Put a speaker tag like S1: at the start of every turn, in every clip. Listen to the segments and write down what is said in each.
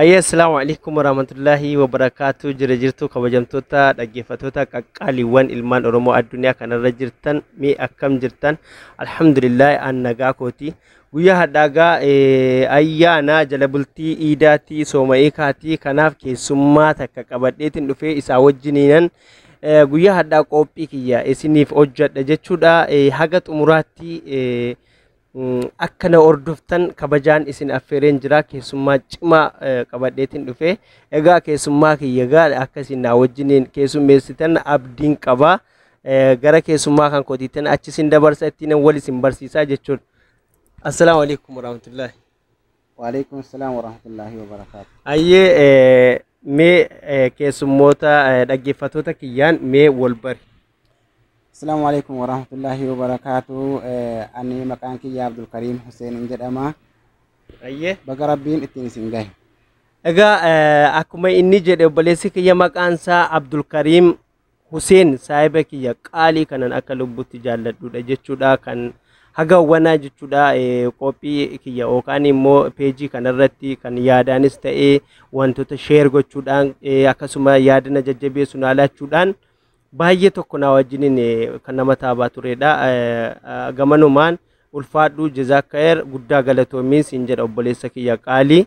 S1: Ayyee asalaamu alaikum warahmatullahi wabarakaatuu jira jirtuu kabajamtoota dhaggeeffattoota qaqqaaliiwwan ilmaan oromoo addunyaa kanarra jirtan mee akkam jirtan alhamdulillahi an nagaa kooti guyyaa hadhaagaa ayyaana jala bultii iidaatii sooma'ii kaatii kanaaf keessummaa takka qabadheetiin dhufee isaa wajjiniinan Eh, guyyaa hadhaa qophii kiyya isiniif hojjadha jechuudha Eh, haga xumuraatti eh, mm, akka na hordoftan kabajaan isin affeereen jira keessummaa cimaa eh, qabadheetiin dhufe egaa keessummaa kiyya egaa akka isin naa wajjiniin keessummeessitan abdiin qaba Eh, gara keessummaa kan kootiitan achi isin dabarsa ittiin wal isin barsiisaa jechuudha assalaamu alaikum warahmatullaahi Waaleykum
S2: salaam warahmatullaahi wabarakaatu. Ayyee eh,
S1: mee eh, keessummoota eh, dhaggeeffattoota kiyyaan mee wal bari. Asalaamu
S2: alaikum warahmatullaahi wabarakaatu. Eh, Ani maqaan kiyya Abdulkariim Huseen hin jedhama. Ayyee.
S1: Baga Rabbiin ittiin
S2: isin gahe. Egaa eh,
S1: akkuma inni jedhe obboleessi kiyya maqaan isaa Abdulkariim Huseen saahiba kiyya qaalii kanan akka lubbutti jaalladhuudha jechuudha kan haga wanaa jechuudha qophii kiyya yookaan immoo peejii kanarratti kan yaadaanis ta'ee wantoota sheer gochuudhaan akkasuma yaadana jajjabeessu naa laachuudhaan baay'ee tokko naa wajjiniin kan nama taabaa turedha. Gamanumaan ulfaadhuu jezaakkayer guddaa galatoomiin siin jedha obboleessa kiyya qaalii.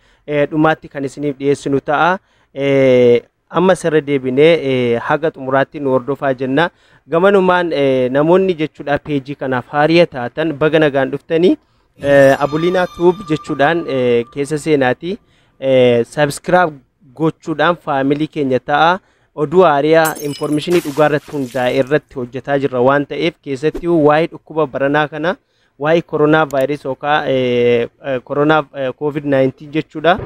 S1: eh, dhumaatti kan isiniif dhiyeessinu ta'a. Eh, amma sirra deebinee eh, haga xumuraatti nu hordofaa jenna. Gamanumaan eh, namoonni jechuudha peejii kanaaf haariya taatan baga nagaan dhuftanii eh, Abulinaa Tuub jechuudhaan eh, keessa seenaati. Eh, subscribe gochuudhaan faamilii keenya ta'a. Oduu haariyaa infoormeeshinii dhugaa irratti hundaa'e irratti hojjetaa jirra waan ta'eef keessatti waa'ee dhukkuba baranaa kana waa'ee koronaa vaayirasii yookaan koronaa koovid 19 jechuudha.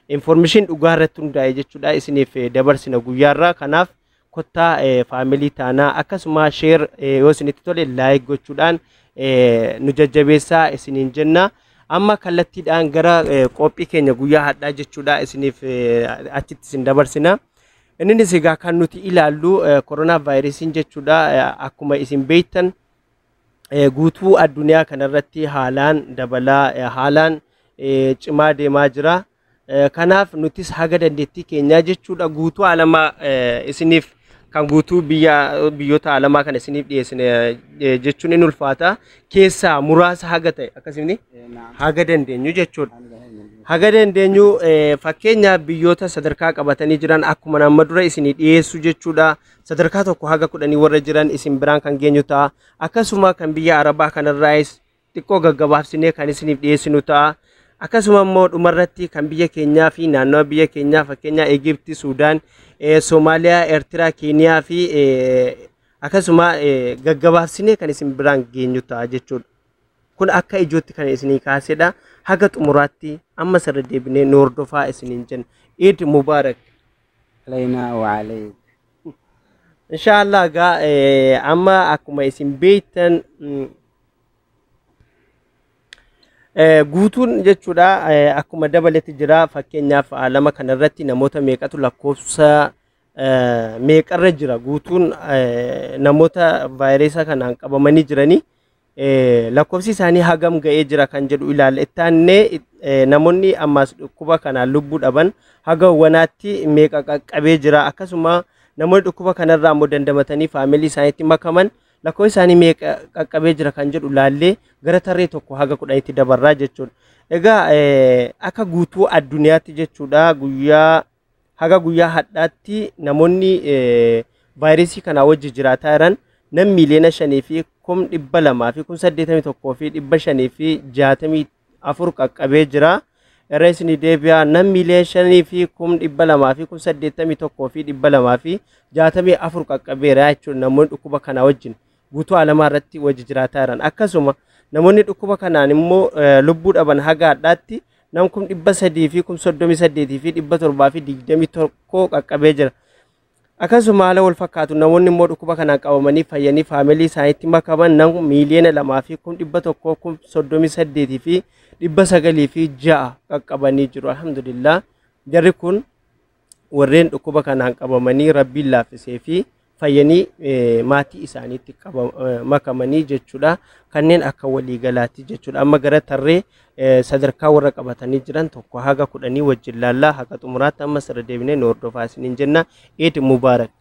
S1: Infoormeeshin dhugaa irratti hundaa'e jechuudha isiniif dabarsina guyyaarraa kanaaf kottaa faamilii taanaa akkasuma sheer yoo isinitti tole laayik gochuudhaan nu jajjabeessaa isiniin jenna. Amma kallattiidhaan gara qophii keenya guyyaa hadhaa jechuudha isiniif achitti isin dabarsina. Innis egaa kan nuti ilaallu koronaa vaayirasiin jechuudha akkuma isin beektan eh, guutuu addunyaa kanarratti haalaan dabalaa eh, haalaan eh, cimaa deemaa jira. Eh, Kanaaf nutis haga dandeettii keenyaa jechuudha guutuu alamaa eh, isiniif kan guutuu biyya biyyoota alamaa kana isiniif dhiyeessine eh, jechuun in ulfaata. Keessaa muraasa haga ta'e akkasumni haga dandeenyu jechuudha. Haga dandeenyu eh, fakkeenyaaf biyyoota sadarkaa qabatanii jiran akkuma nama dura isinii dhiyeessu jechuudha. sadarkaa tokko haga kudhanii warra jiran isin biraan kan geenyu ta'a akkasuma kan biyya arabaa kanarraayis xiqqoo gaggabaabsinee kan isiniif dhiyeessinu ta'a akkasuma immoo dhumarratti kan biyya keenyaa fi naannawa biyya keenyaa fakkeenyaa Egipti, Suudaan, eh, Soomaaliyaa, Eertiraa, Keeniyaa fi eh, akkasuma eh, gaggabaabsinee kan isin biraan geenyu ta'a jechuudha. Kun akka ijootti kan isinii kaasedha. Haga xumuraatti amma sirra deebinee nu hordofaa isiniin jenna. Eid Mubarak. Alaynaa
S2: wa alayk.
S1: Inshallah egaa eh, amma akkuma isin beektan mm, eh, guutuun jechuudha eh, akkuma dabaletti jira fakkeenyaaf ah, lama kana irratti namoota meeqatu lakkoofsa eh, meeqarra jira guutuun eh, namoota vaayiresa kanaan qabamanii jiranii Lakkoofsi isaanii hagam ga'ee jira kan jedhu ilaalla. Itti aannee namoonni ammaas dhukkuba kanaan lubbuu dhaban haga wanaatti meeqa qaqqabee jira akkasuma namoonni dhukkuba kanarraa immoo dandamatanii faamilii isaaniitti makaman lakkoofsi isaanii meeqa qaqqabee jira kan jedhu ilaallee gara tarree tokko haga kudhanitti dabarraa jechuudha. Egaa akka guutuu addunyaatti jechuudha guyyaa Haga guyyaa hadhaatti namoonni vaayirasii kanaa wajji jiraataa jiran nam miiliyoona shanii fi kum dhibba lamaa fi kum saddeetamii tokkoo fi dhibba shanii fi jaatamii afur qaqqabee jira. Irra isinii deebi'aa nam miiliyoona shanii fi kum dhibba lamaa fi kum saddeetamii tokkoo fi dhibba lamaa fi jaatamii afur qaqqabeera jechuudha namoonni dhukkuba kanaa wajjin. guutuu alamaa irratti wajji jiraataa jiran akkasuma namoonni dhukkuba kanaan immoo lubbuu dhaban haga hadhaatti nam kum dhibba sadii fi kum soddomii saddeetii fi dhibba torbaa fi digdamii tokko qaqqabee jira. Akkasuma haala wal fakkaatu namoonni immoo dhukkuba kanaan qabamanii fayyanii faamilii isaaniitti makaman nam miiliyoona lamaa fi kum dhibba tokkoo kum soddomii saddeetii fi dhibba sagalii fi ja'a qaqqabanii jiru. Alhamdulillah jarri kun warreen dhukkuba kanaan qabamanii rabbiin laaffisee fi fayyanii eh, maatii isaaniitti qaba- eh, makamanii jechuudha kanneen akka waliigalaatti jechuudha amma gara tarree eh, sadarkaa warra qabatanii jiran tokko haga kudhanii wajjin laallaa haga xumuraatti ammas irra deebinee nu hordofaa isiniin jenna eid mubaarak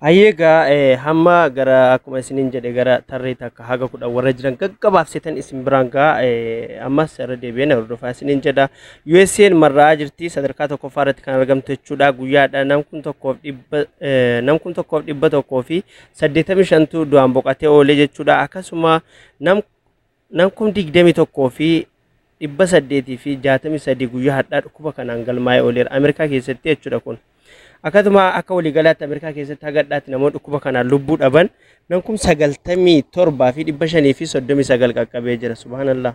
S1: Ayyeegaa eh, hamma gara akkuma isiniin jedhe gara tarree takka haga kudhan warra jiran gaggabaabsitan isin biraan gaa eh, ammas irra deebi'ee na hordofaa isiniin jedha. USA'n marraa jirti sadarkaa tokkoffaa irratti kan argamtu jechuudha. Guyyaadha nam kun tokkoof dhibba eh, nam kun tokkoof dhibba tokkoo fi saddeettamii shantu du'aan boqatee oolee jechuudha. Akkasuma nam Nam kum 21 fi 863 guyyaa hadhaa dhukkuba kanaan galmaa'ee ooleera Ameerikaa keessatti jechuudha kun. Akkasuma akka waliigalaatti Ameerikaa keessatti haga hadhaatti namoonni dhukkuba kanaan lubbuu dhaban nam kum 97 fi 539 qaqqabee jira subhaanallah.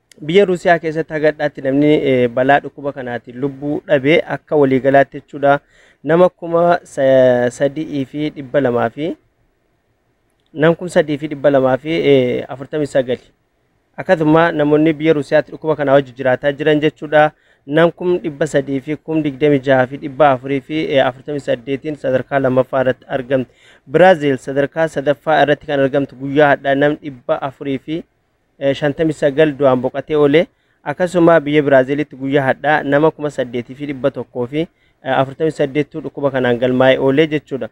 S1: Biyya Ruusiyaa keessatti haga dhadhaatti namni balaa dhukkuba kanaatiin lubbuu dhabe akka waliigalaatti jechuudha nama kuma sadii fi dhibba lamaa fi nam kum sadii fi dhibba lamaa fi afurtamii sagali akkasuma namoonni biyya Ruusiyaatti dhukkuba kanaa wajji jiraataa jiran jechuudha nam kum dhibba sadii fi kum digdami jaha fi dhibba afurii fi afurtamii saddeetiin sadarkaa lammaffaa irratti argamti Biraaziil sadarkaa sadaffaa irratti kan argamtu guyyaa hadhaa nam dhibba afurii fi 59 du'aan boqatee oole. Akkasuma biyya Biraaziilitti guyyaa hadhaa nama 8,148tu dhukkuba kanaan galmaa'ee oole jechuudha.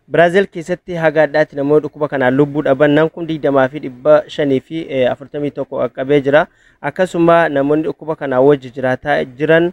S1: Biraaziil keessatti haga hadhaatti namoonni dhukkuba kanaan lubbuu dhaban nam kun 20 fi 541 qaqqabee jira. Akkasuma namoonni dhukkuba kanaa wajji jiraataa jiran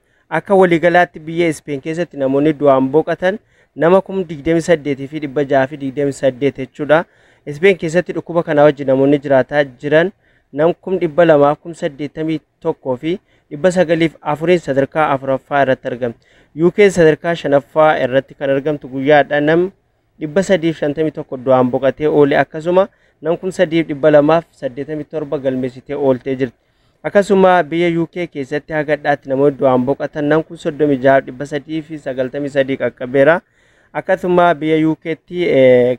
S1: Akka waliigalaatti biyya Ispeen keessatti namoonni du'aan boqatan nama kum 28 fi 628 jechuudha. Ispeen keessatti dhukkuba kanaa wajjin namoonni jiraataa jiran nam kum 200 kum 81 fi 904 sadarkaa afuraffaa irratti argamti. UK sadarkaa shanaffaa irratti kan argamtu guyyaadha nam 351 du'aan boqatee oole akkasuma nam kum 287 galmeessitee ooltee jirti. Akkasuma biyya UK keessatti haga dhaatti namoonni du'aan boqatan nam kum 36393 qaqqabeera. Akkasuma biyya UKtti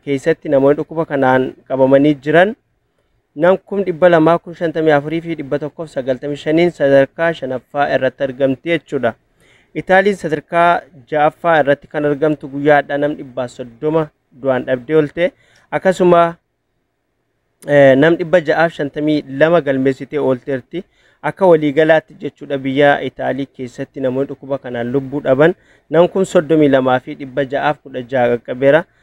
S1: keessatti namoonni dhukkuba kanaan qabamanii jiran nam kum 200 kum 54 fi 195n sadarkaa shanaffaa irratti argamti jechuudha. Itaaliin sadarkaa ja'affaa irratti kan argamtu guyyaa hadhaa nam 130 du'aan dhabdee oolte akkasuma nam 652 galmeessitee oolteerti. Akka waliigalaatti jechuudha biyya Itaalii keessatti namoonni dhukkuba kanaan lubbuu dhaban nam kum 32 fi 616 qaqqabeera.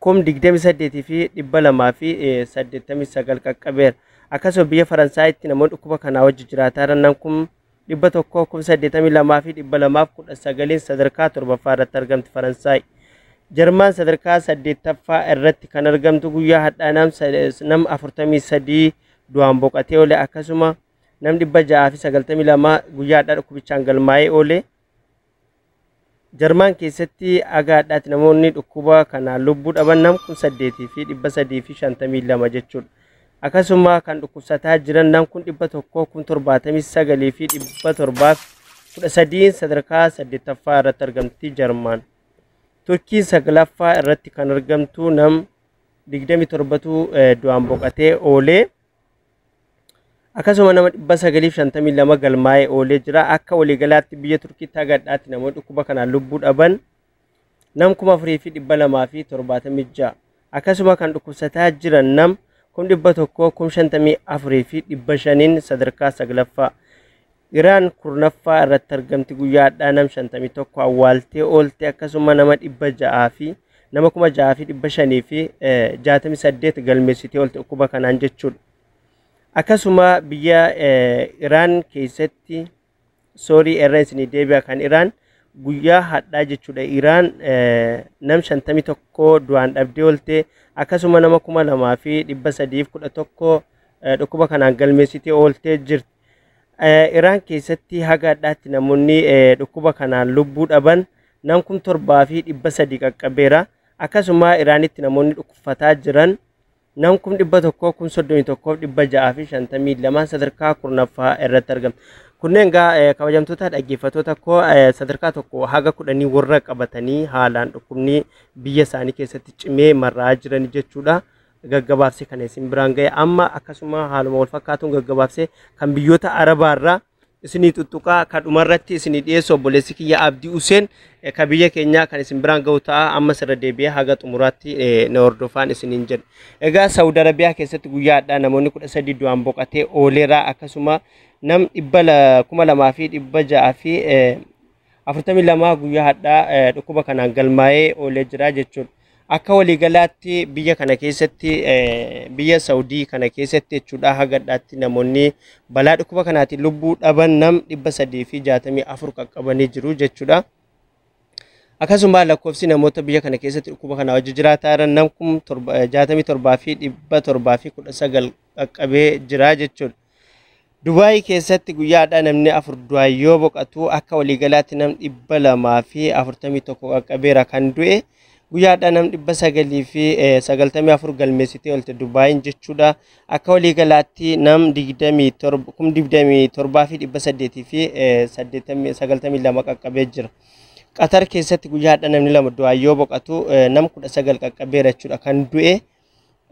S1: kum 28 fi 289 qaqqabeera. Akkasuma biyya Faransaayitti namoonni dhukkuba kanaa wajji jiraataa jiran nan kum 100 kum 82 fi 219 sadarkaa torbaffaa irratti argamti Faransaay. Jarmaan sadarkaa saddeettaffaa irratti kan argamtu guyyaa hadhaa nam sa- nam 43 du'aan boqatee oole akkasuma nam 692 guyyaa hadhaa dhukkubichaan galmaa'ee oole Jarmaan keessatti haga hadhaatti namoonni dhukkuba kanaan lubbuu dhaban nam kun saddeetii fi dhibba sadii fi shantamii lama jechuudha. Akkasuma kan dhukkubsataa jiran nam kun dhibba tokkoo kun torbaatamii sagalii fi dhibba torbaaf kudha sadiin sadarkaa saddeettaffaa irratti argamti Jarmaan. Turkiin saglaffaa irratti kan argamtu nam digdamii torbatu du'aan boqatee oolee. Akkasuma nama 952 galmaa'ee oolee jira. Akka waliigalaatti biyya Turkiitti haga hadhaatti namoonni dhukkuba kanaan lubbuu dhaban nam 4276. Akkasuma kan dhukkubsataa jiran nam 154,500 sadarkaa 9ffaa. Iraan 10ffaa irratti argamti guyyaa hadhaa nam 51 awwaaltee oolte akkasuma nama 600 fi nama 6568 galmeessitee oolte dhukkuba kanaan jechuudha. Akkasuma biyya Iraan keessatti soorii irra isinii deebi'a kan Iraan guyyaa hadhaa jechuudha Iraan nam 51 du'aan dhabdee oolte akkasuma nama 2311 dhukkuba kanaan galmeessitee ooltee jirti. Iraan keessatti haga adhaatti namoonni dhukkuba kanaan lubbuu dhaban nam kum torbaa fi dhibba sadii qaqqabeera. Akkasuma Iraanitti namoonni dhukkubfataa jiran nam kum dhibba tokkoo kum soddomii tokkoof dhibba ja'aa fi shantamii lamaan sadarkaa kurnaffaa irratti argamu. Kunneen egaa kabajamtoota dhaggeeffattoota koo sadarkaa tokko haga kudhanii warra qabatanii haalaan dhukkubni biyya isaanii keessatti cimee marraa jiran jechuudha. gaggabaabsee kana isin biraan ga'e amma akkasuma haaluma wal fakkaatuun gaggabaabsee kan biyyoota arabaa irraa isinii tuttuqaa ka dhumarratti isinii dhiyeessu obboleessi kiyya abdii useen ka biyya keenyaa kan isin biraan ga'u ta'a ammas irra deebi'ee haga xumuraatti na hordofaan isiniin jedha. Egaa Saawud Arabiyaa keessatti guyyaa hadhaa namoonni kudha sadii du'aan boqatee ooleera akkasuma nam dhibba kuma lamaa fi dhibba ja'aa fi 42 guyyaa hadhaa eh, dhukkuba kanaan galmaa'ee oolee jira jechuudha. Akka waliigalaatti biyya kana keessatti eh, biyya Saawudii kana keessatti jechuudha hagadhaatti namoonni balaa dhukkuba kanaatiin lubbuu dhaban nam 364 qaqqabanii jiru jechuudha. Akkasuma lakkoofsi namoota biyya kana keessatti dhukkuba kana wajji jiraataa jiran nam 67 fi 719 qaqqabee jira jechuudha. Dubaayii keessatti guyyaa har'aa namni afur du'aan yoo boqatu akka waliigalaatti nam dhibba lamaa fi afurtamii tokko qaqqabeera kan du'e. Guyyaa har'aa nam dhibba sagalii fi sagaltamii afur galmeessitee oolte Dubaayiin jechuudha. Akka waliigalaatti nam digdamii torba kum digdamii torbaa fi dhibba saddeetii fi saddeettamii sagaltamii lama qaqqabee jira. Qatar keessatti guyyaa har'aa namni lama du'aan yoo boqatu nam kudha sagal qaqqabeera jechuudha kan du'e.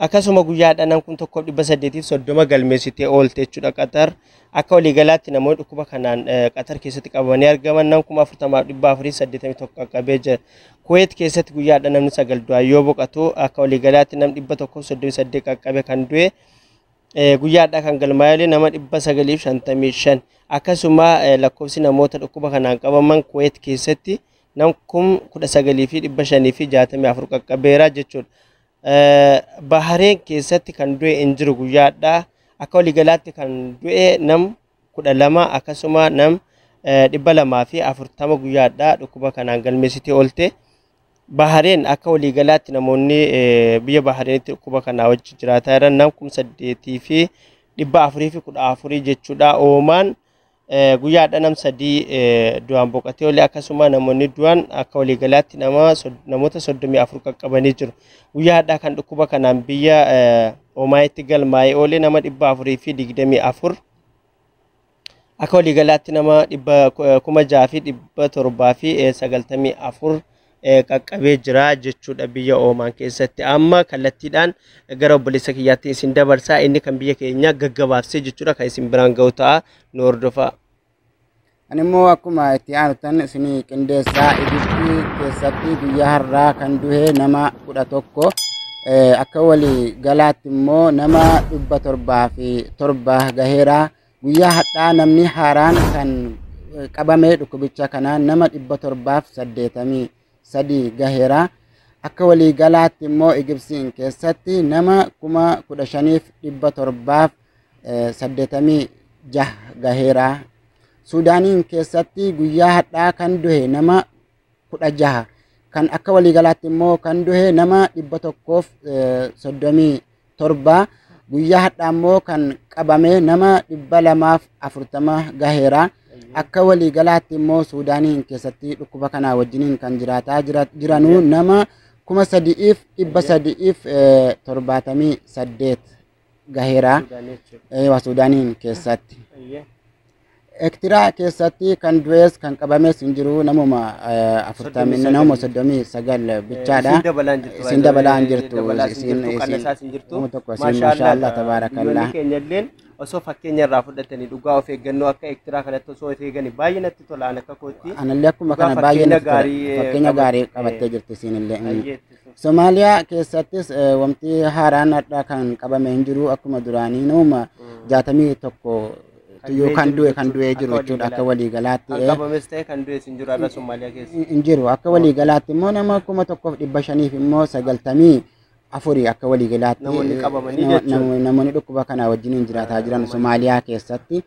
S1: Akkasuma guyyaa dhanan kun tokko dhibba saddeetiif soddoma galmeessitee oolte jechuudha Qatar. Akka waliigalaatti namoonni dhukkuba kanaan Qatar keessatti qabamanii argaman nam kuma afurtamaaf dhibba afurii saddeetamii tokko qaqqabee jira. Kuweet keessatti guyyaa dha namni sagal du'aan yoo boqatu akka waliigalaatti nam dhibba tokkoof soddomii saddeet qaqqabe kan du'e guyyaadhaa kan galmaa'eelee nama dhibba sagaliif shantamii shan. Akkasuma lakkoofsi namoota dhukkuba kanaan qabaman Kuweet keessatti nam kum 19 fi 564 qaqqabeera jechuudha. Bahareen keessatti kan du'e hin jiru guyyaadha. Akka waliigalaatti kan du'e nam 12 akkasuma nam 240 guyyaadha dhukkuba kanaan galmeessitee oolte. Bahareen akka waliigalaatti namoonni biyya Bahareenitti dhukkuba kanaa wajji jiraataa jiran nam 8 fi 414 jechuudha. Oomaan Guyyaa har'a nam sadii du'aan boqatee olee akkasuma namoonni du'an akka waliigalaatti nama namoota 34 qaqqabanii jiru. Guyyaa har'aa kan dhukkuba kanaan biyya Omaayitti galmaa'ee oole nama 424 akka waliigalaatti nama 6,794 qaqqabee jira jechuudha biyya Oomaan keessatti. Amma kallattiidhaan gara obboleessa kiyyaatti isin dabarsaa inni kan biyya keenya gaggabaabsee jechuudha kan isin biraan ga'u ta'a nu hordofaa. Ani
S2: immoo akkuma itti aanutan isinii qindeessaa Ijiptii keessatti guyyaa har'aa kan duhe nama kudha tokko akka walii galaatti immoo nama dhibba torbaa fi torba gaheera. Guyyaa hadhaa namni haaraan kan qabamee dhukkubicha kanaan nama 783 gaheera. Akka waliigalaatti immoo Igibsiin keessatti nama 15,786 gaheera. Suudaaniin keessatti guyyaa hadhaa kan duhe nama kudha jaha kan akka waliigalaatti immoo kan duhe nama dhibba tokkoof soddomii torba guyyaa hadhaa immoo kan qabame nama dhibba lamaaf afurtama gaheera akka waliigalaatti immoo suudaaniin keessatti dhukkuba kanaa wajjiniin kan jiraataa jiranuu nama kuma sadi'iif dhibba sadi'iif torbaatamii saddeet gaheera eewa suudaaniin keessatti ektiraa keessatti kan du'ees kan qabamees hin jiru namuma afurtamii namuma soddomii sagal bichaadha isin dabalaa hin jirtu isin nama tokko isin maashaallah tabaarakallaa keenyalleen osoo fakkeenya irraa fudhatanii dhugaa of eeggannoo akka ektiraa kanatti osoo of eeganii baay'ee natti tola an akka kootti anallee akkuma kana baay'ee fakkeenya gaarii qabattee jirti isinillee Somaaliyaa keessattis wanti haaraan har'a kan qabame hin jiru akkuma duraanii nama jaatamii tokko yoo kan du'e kan du'ee jiru jechuudha akka waliigalaatti. Kan qabames ta'e kan du'es
S1: hin jiru har'a Somaaliyaa keessa. Hin jiru akka
S2: waliigalaatti immoo nama kuma tokkoof dhibba shaniif immoo sagaltamii afurii akka waliigalaatti. Namoonni qabamanii jechuudha. Namoonni dhukkuba kanaa wajjin hin jiraataa jiran Somaaliyaa keessatti.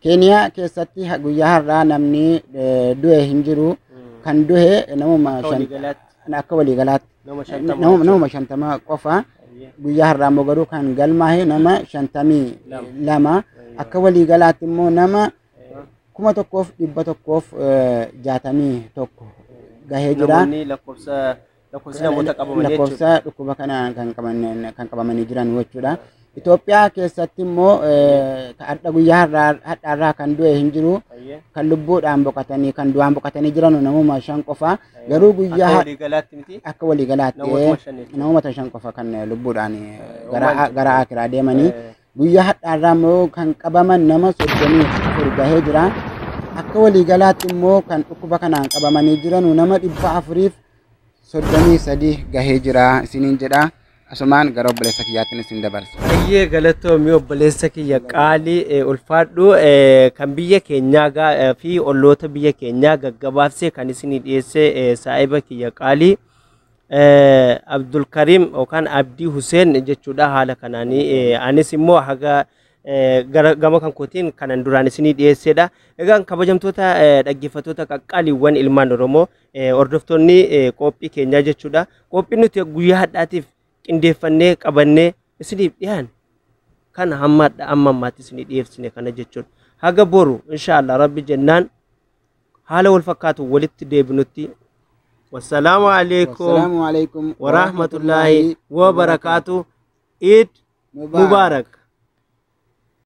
S2: Keeniyaa keessatti ha- guyyaa har'aa namni eh, du'e hin jiru. Kan du'e namuma Akka shan- waliigalaatti akka waliigalaatti nama shantama nama- jechuudha. namuma shantama qofa. Eeyyee. Guyyaa har'aa immoo garuu kan galmaa'e nama shantamii Lama. lama. Eeyyee. Akka waliigalaatti immoo nama Eeyyee. kuma tokkoof dhibba tokkoof eh, jaatamii tokko gahee jira. Namoonni lakkoofsa lakkoofsi namoota qabamanii jechuudha. lakkoofsa dhukkuba kanaan kan qabaman- kan qabamanii jiran jechuudha. Itoophiyaa keessatti immoo eh, ka hadha guyyaa har'aa- hadhaarraa kan du'e hin jiru. Baay'ee. Kan lubbuudhaan boqotanii kan du'aan boqotanii jiran namuma shan qofa. Garuu Akka guyyaa har- walii galaatti miti. akka waliigalaatti Namootuma shan jechuudha. namoota shan qofa kan lubbuudhaan eh, gara Uumaan jiru. gara akiraa deemanii. Eh, Guyyaa hadhaarraa immoo kan qabaman nama soddomii afur gahee jira. Akka waliigalaatti immoo kan dhukkuba kanaan qabamanii jiran nama dhibba afuriif soddomii sadii gahee jira isiniin jedha asumaan gara obboleessa kiyyaattin isin dabarsa. Baay'ee galatoomi
S1: obboleessa kiyya qaalii eh, ulfaadhu eh, kan biyya keenyaa gaa- eh, fi olloota biyya keenyaa gaggabaabsee kan isinii dhiyeesse eh, saahiba kiyya qaalii eh, Abdulkarim yookaan Abdii Huseen jechuudha haala kanaanii eh, anis immoo haga eh, gara gama kan kootiin kanan duraan isinii dhiyeessedha. Egaan kabajamtoota eh, dhaggeeffattoota qaqqaaliiwwan ilmaan Oromoo Hordoftoonni qophii keenyaa jechuudha. Qophii nuti guyyaa hadhaatiif qindeeffannee qabannee isiniif dhiyaanne kana hamma amma ammaatti isinii dhiyeessine kana jechuudha. Haga boru inshaallah rabbi jennaan haala wal fakkaatu walitti deebinutti wassalaamu alaikum Assalaamu alaikum wa rahmatullaahi wa barakaatu iid mubaarak.